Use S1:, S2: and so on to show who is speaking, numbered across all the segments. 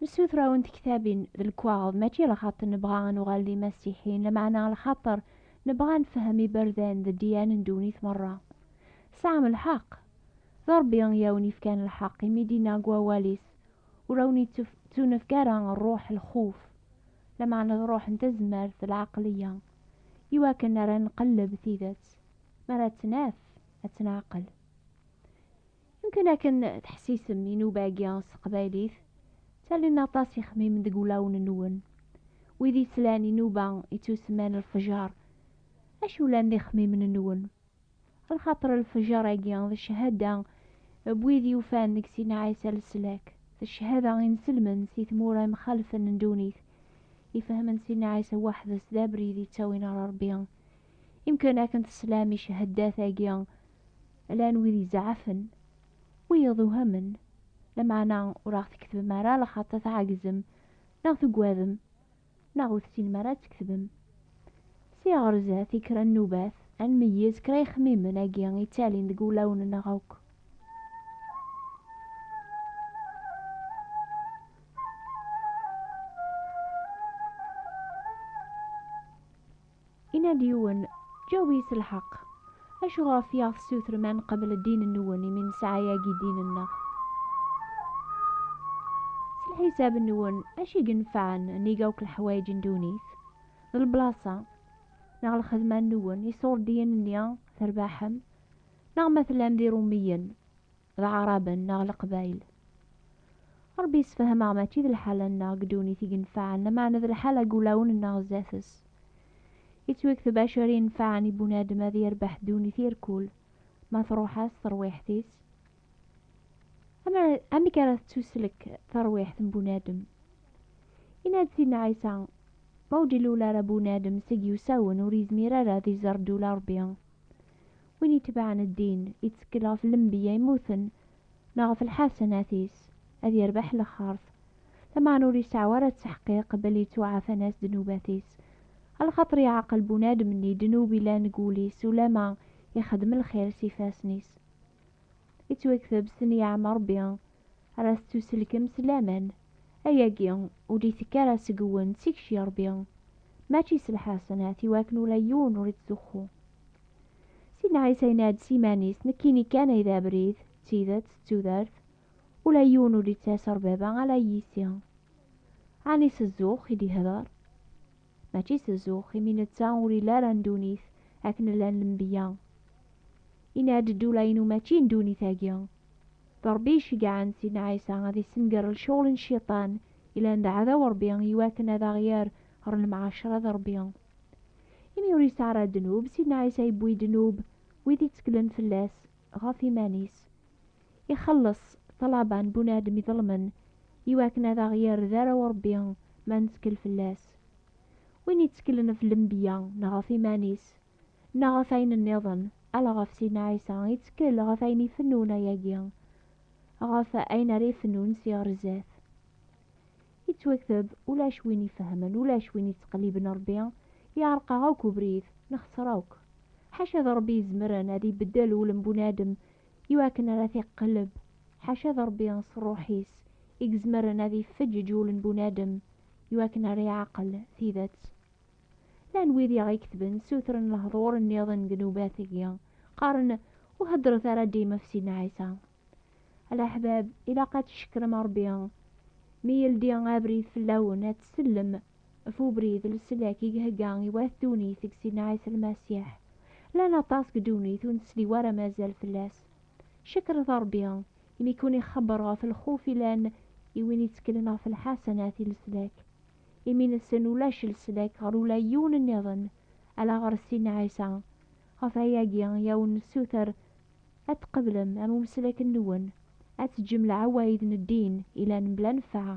S1: Nessuter awen tektabin d lekwaɣeḍ mačči lxaṭ nebɣa a nuɣal d imasiḥiyen lameɛna lxaṭer nebɣa a nfehhem iberdan d ddiyan n ddunit merra. Tesɛam lḥeq. D Rebbi i awen yefkan lḥeq imi i d-inna deg wawal-is, Ur awen ittunefk ara ṛṛuḥ lxuf, lameɛna d ṛṛuḥ n tazmert d lɛeqliya, iwakken ara nqelleb tidet, mi ara tt-naf ad tt-neɛqel. Mumkin akken teḥsisem inuba-agi s teqbaylit ttalin aṭas ixemmimen deg wulawen-nwen. Wid yeslan inuba ittusemman lfejer, acu llan d ixemmimen-nwen? Lxaṭer lfejer-agi d cchada n wid yufan deg Sina Ɛisa leslak, d cchada inselmen si tmura imxalfen n ddunit, ifehmen Sina Ɛisa weḥd-s d abrid yettawin ɣer Rebbi, Imkan akken teslam i ceheddat-agi llan wid izɛafen, wiyeḍ uhamen, lameɛna ur aɣ-tketbem ara lxaṭa tɛagzem neɣ tugadem neɣ ur tessinem ara ad tketbem. Si ɣer zdat i kra nnubat, ad nmeyyez kra ixemmimen agi ittalin deg wulawen-nneɣ akk. Inna-d yiwen, Ǧawi s lḥeqq! Acu ɣef i aɣ-tessutrem ad neqbel ddin-nwen imi nesɛa yagi ddin-nneɣ? S lḥisab-nwen, acu i inefɛen nnig akk leḥwayeǧ n ddunit? D leblaṣa, neɣ lxedma-nwen iṣurdiyen-nni terbaḥem? Neɣ ma tellam d irummiyen? D aɛraben neɣ leqbayel. Ṛebbi yessefhem-aɣ mačči d lḥala-nneɣ deg ddunit i yenfaɛen, lameɛna d lḥala n wulawen-nneɣ zdat-s. Yettwakteb acu-ara yenfaɛen i bunadem ad yerbeḥ ddunit i rrkul, ma tṛuḥ-as terwiḥt-is. Amek ara tettuslek terwiḥt n bunadem? Yenna-d Sidna Ɛisa, Ma ur d-ilul ara bunadem seg yiwsawen, ur yezmir ara ad iẓer ddula n Ṛebbi. Win itebɛen ddin, ittekkel ɣef lembeyya immuten neɣ ɣef lḥasanat-is, ad yerbeḥ lexxert. Lameɛna ur iseɛɛu ara ttḥeqqiq belli ttuɛafan-as ddnubat-is. Ɣer lxaṭer yeɛqel bunadem-nni ddnub yellan deg wul-is ulamma ixeddem lxir s yifassen-is. Ittwakteb s ten-yeɛma Rebbi. Ar as tuselkem s laman. Ayagi ur d-itekki ara seg-wen tikci Rebbi, mačči s lḥasenat, i wakken ula yiwen ur ittzuxxu. Sidna Ɛisa yenna-d s yiman-is, Nekkini kan ay d abrid, d tidet, d tudert, ula yiwen ur d-ittas ar Baba ala yis-i. Ɛni s zzux i d-ihder? mačči s zzux, imi netta ur ili ara n ddunit akken llan lenbiya. Yenna-d ddula-inu mačči n ddunit-agi. D Ṛebbi iceggɛen Sidna Ɛisa ad issenger lecɣel n Cciṭan yellan d aɛdaw n Ṛebbi i wakken ad aɣ-yerr ɣer lemɛacṛa d Ṛebbi. Imi ur yesɛi ara ddnub, Sidna Ɛisa yewwi ddnub wid iţeklen fell-as ɣef iman-is. ixelleṣ ṭṭlaba n bunadem iḍelmen i wakken ad aɣ-yerr d arraw Ṛebbi ma nettkel fell-as. Win itteklen ɣef lenbiya neɣ ɣef iman-is neɣ ɣef ayen nniḍen, ala ɣef Sidna Ɛisa ittekkel ɣef ayen ifennun ayagi, ɣef ayen ara ifennun si ɣer zdat. Yettwakteb, Ulac win ifehmen, ulac win ittqelliben Ṛebbi, yeɛreq-aɣ akk ubrid, nexṣer akk. Ḥaca d Ṛebbi izemren ad ibeddel ul n bunadem i wakken ara t-iqelleb, ḥaca d Ṛebbi s Ṛṛuḥ-is i izemren ad ifeǧǧeǧ ul n bunadem i wakken ara iɛqel tidet. Llan wid i aɣ-iketben ssutren lehḍur nniḍen deg nnubat-agi, qqaren, Ur heddṛet ara dim ɣef Sidna Ɛisa. A leḥbab, ilaq ad tcekkrem Ṛebbi mi yeldi abrid fell-awen ad tsellem Ɣef ubrid n leslak i ihegga i wat ddunit deg Sidna Ɛisa Lmasiḥ. Llan aṭas deg ddunit ur nesli wara ma azal fell-as. Cekret Rebbi imi ken-ixebber ɣef lxuf yellan i win itteklen ɣef lḥasanat i leslak. Imi-nsen ulac leslak ɣer ula yiwen nniḍen ala ɣer Sidna Ɛisa. Ɣef wayagi i awen-nessuter ad tqeblem am umeslak-nwen, ad teǧǧem leɛwayed n ddin yellan mebla nnfeɛ.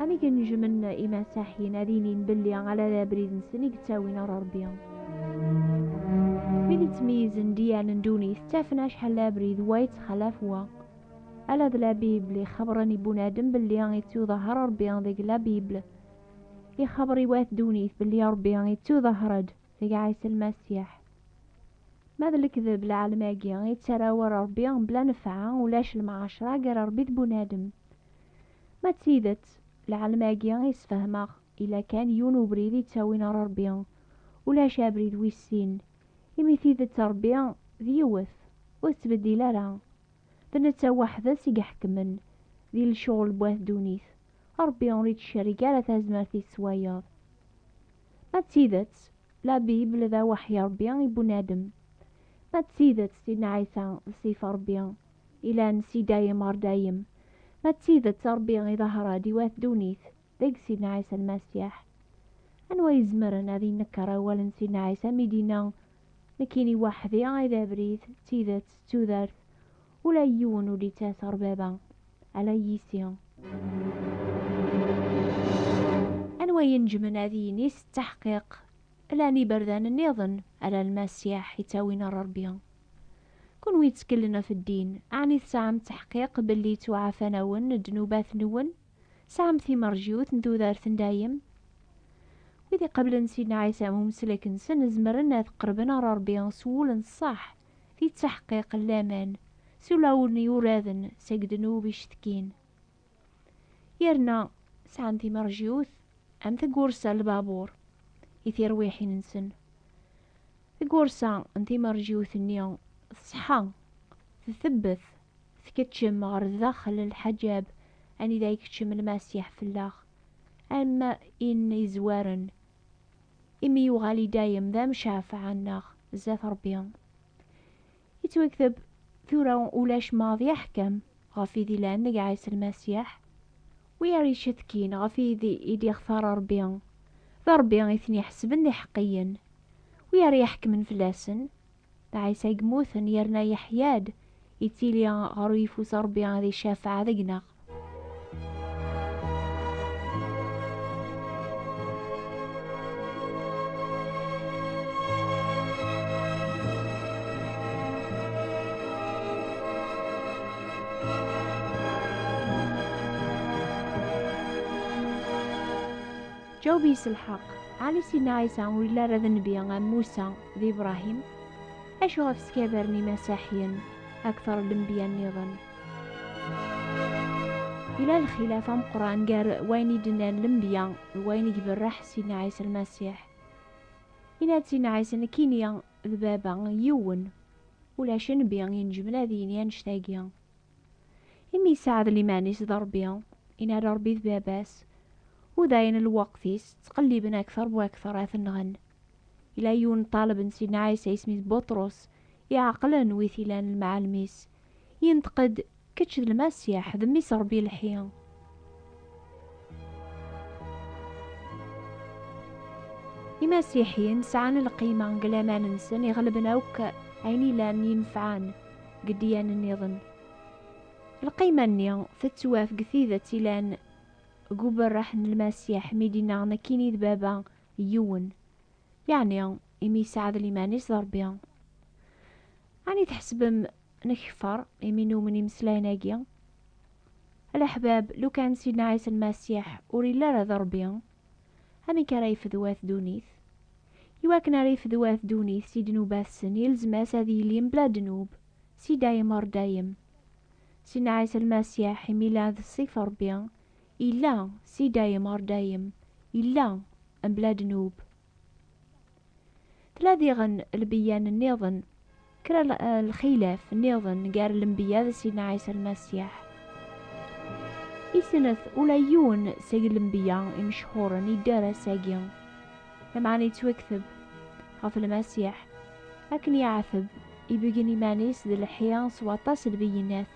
S1: Am i gen-jmen imasaḥin ad inin belli ala d abrid-nsen i yettawin ɣer Rebbi. Wid yettmeyyizen diyal n ddunit ttafen acḥal d abrid wa yettxalaf wa. Ala d la Bible i xebbren i bunadem belli ittuḍahher Rebbi deg la Bible. Ixebber i wat ddunit belli Rebbi ittuḍahher-d deg Ɛisa Lmasiḥ. Ma d lekdeb lɛelm-agi yettara war Rebbi bla nefɛa, ulac lemɛacra gar Rebbi d bunadem. Ma d tidet, lɛelm-agi i yesfehmeɣ, yella kan yiwen ubrid i yettawin ɣer Rebbi, ulac abrid wis sin, imi tidet n Rebbi d yiwet, ur tettbeddil ara, d netta weḥd-s i iḥekmen di lecɣel n wat ddunit, Rebbi ur ittcerrig ara tazmert-is s wayeḍ. Ma d tidet, la Bible d aweḥyi n Rebbi i bunadem, ma d tidet Sidna Ɛisa d ssif n Rebbi, ilan si dayem ɣer dayem. Ma d tidet Ṛebbi iḍahher-d i wat ddunit, deg Sidna Ɛisa Lmasiḥ. Anwa i izemren ad inekker awal n Sidna Ɛisa mi d-inna, Nekkini weḥd-i ay d abrid, d tidet, d tudert, ula i yiwen ur d-ittas ɣer Baba, ala yis-i. Anwa i inejmen ad yini s ttaḥqiq, llan iberdan nniḍen, ala Lmasiḥ i ttawin ɣer Ṛebbi, Kunwi ttkellen ɣef ddin, ɛni tesɛam ttaḥqiq belli ttuɛafan-awen ddnubat-nwen? Tesɛam timerjiwt n tudert n dayem? Wid iqablen Sidna Ɛisa am umeslek-nsen zemren ad qerben ɣer Rebbi s wul n ṣṣeḥ, di ttaḥqiq n laman, s ulawen yuraden seg ddnub icetkin. yerna sɛan timerjiwt am tagursa n lbabuṛ i tirwiḥin-nsen. Tagursa n timerjiwt-nni tṣeḥḥa, ttebbet, tkeččem ɣer daxel n lḥaǧab anida ikeččem Lmasiḥ fell-aɣ, am in yezwaren, imi yuɣal i dayem d amcafeɛ-nneɣ zdat Ṛebbi. Yettwakteb tura ulac maḍi aḥkam ɣef id ilan deg Ɛisa Lmasiḥ. Wi ara icetkin ɣef id i d-ixtar Rebbi, d Rebbi i ten-iḥesben d iḥeqqiyen. Wi ara iḥekmen fell-asen, d Ɛisa i yemmuten yerna yeḥya-d, yettili ɣer uyeffus Rebbi ad icafeɛ deg-neɣ. Ǧaweb yis lḥeqq, Ɛli Sidna Ɛisa ur yelli ara d nnbi am Musa d Ibṛahim. Acu ɣef skabaren imasaḥiyen akteṛ n lenbiya nniḍen? Yella lxilaf ameqran gar wayen i d-nnan lembiya d wayen i iberreḥ Sidna Ɛisa Lmasiḥ. Yenna-d Sidna Ɛisa nekkini d Baba yiwen, ulac nnbi inejmen ad yini annect-agi. Imi yesɛed liman-is d Ṛebbi, yenna-d Ṛebbi d Baba-s, u dayen lweqt-is ttqelliben akteṛ bu akteṛ ad t-nɣen. Yella yiwen n ṭaleb n Sidna Ɛisa isem-is Buṭrus, iɛeqlen wi t-ilan lemɛalem-is. Yenṭeq-d, Kečč d Lmasiḥ, d Mmi-s Ṛebbi lḥi. Imasiḥiyen sɛan lqima deg laman-nsen iɣelben akk ayen ilan yenfɛen deg ddiyan nniḍen. Lqima-nni tettwaf deg tidet ilan deg uberreḥ n Lmasiḥ mi d-inna, Nekkini d Baba yiwen, yeɛni imi yesɛad liman-is d Ṛebbi. Ɛni tḥesbem nekfeṛ imi numen imeslayen-agi? A leḥbab, lukan Sidna Ɛisa Lmasiḥ ur yelli ara d Ṛebbi, amek ara yefd wat ddunit? Iwakken ara yefd wat ddunit si ddnubat-sen, yelzem-as ad yili mebla ddnub, si dayem ɣer dayem. Sidna Ɛisa Lmasiḥ, imi yella d Ṣṣif n Ṛebbi, Illa si dayem ɣer dayem, illa mebla ddnub. Tella diɣen lbeyyan nniḍen, kra lxilaf nniḍen gar lenbeyya d Sidna Ɛisa Lmasiḥ. Isnet ula yiwen seg lenbeyya imecḥuren yedder ass-agi, lameɛna yettwakteb ɣef Lmasiḥ akken yeɛteb ibeggen iman-is d lḥi s waṭas n lbeyyinat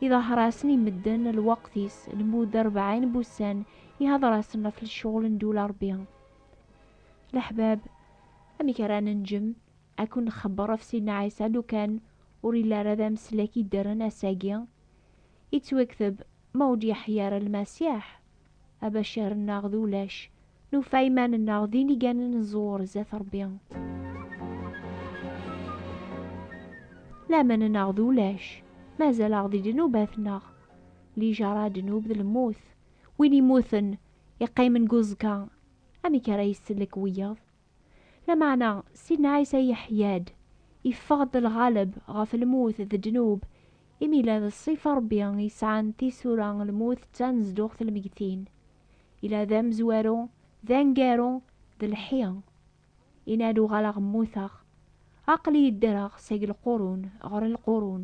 S1: Iḍahrasen i medden lweqt-is, lmud rebɛin n wussan, ihadṛasen ɣef lecɣel n ddula Ṛebbi. Leḥbab, amek ara nenǧem ad ken-nxebbeṛ ɣef Sidna Ɛisa lukan ur yelli ara d ameslak yeddren ass-agi? Yettwakteb, Ma ur d-yeḥya ara Lmasiḥ, Abacar-nneɣ d ulac, nufa iman-nneɣ d iniganen n ẓẓur zdat Ṛebbi. Laman-nneɣ d ulac, mazal-aɣ di ddnubat-nneɣ. Lijaṛa, ddnub d lmut. Win immuten, iqqimen deg uẓekka, amek ara isellek wiyaḍ? Lameɛna, Sidna Ɛisa yeḥya-d, yeffeɣ-d lɣaleb ɣef lmut d ddnub, imi ila d ṣṣifa Ṛebbi yesɛan tisura, lmut d tanezduɣt n lmeggtin. Ila d amezwaru, d aneggaru, d lḥi. Yenna-d, Uɣaleɣ mmuteɣ, aql-iyi ddreɣ seg lqurun ɣer lqurun.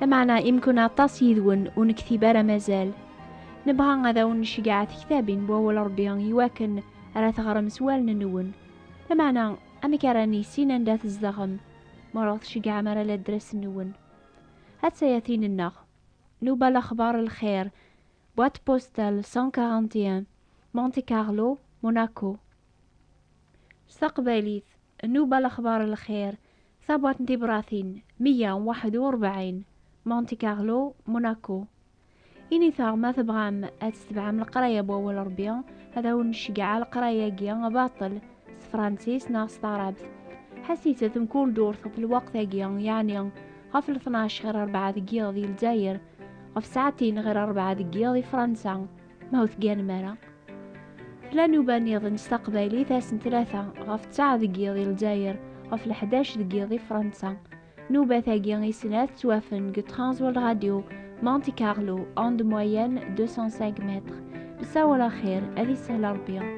S1: Lameɛna imkun aṭas yid-wen ur nektib ara mazal. Nebɣa ad awen-nceggeɛ tektabin n wawal Ṛebbi iwakken ara teɣrem s wallen-nwen. Lameɛna amek ara nissin anda tzedɣem ma ur aɣ-tceggɛem ara ladres-nwen? A tsayatin-nneɣ, Nuba Lexbar Lxir, boîte postale 141, Monte Carlo, Monaco. S taqbaylit, Nuba Lexbar Lxir, Tabrat n tibṛatin meyya u waḥed u ṛebɛin, Monte Carlo, Monaco. Init-aɣ ma tebɣam ad tsetbeɛem leqraya n Wawal n Ṛebbi, ad awen-nceggeɛ aleqray-agi baṭel s tefṛansit neɣ s taɛṛabt. Ḥasit-t mkul durt ɣef lweqt-agi, yeɛni ɣef lṭnac ɣir ṛebɛa deg yiḍ di Lezzayer, ɣef ssaɛtin ɣir ṛebɛa deg yiḍ di Fṛansa. Ma ur tegganem ara, tla nuba-nniḍen s taqbaylit ass n tlata ɣef ttaɛ deg yiḍ i Lezzayer, ɣef leḥdac deg yiḍ i Fransa. Nubat-agi i snat ttwafen deg Transworld Radio, Monte Carlo, onde moyenne 205 mètres. Nessawal axir, ad isahel Rebbi.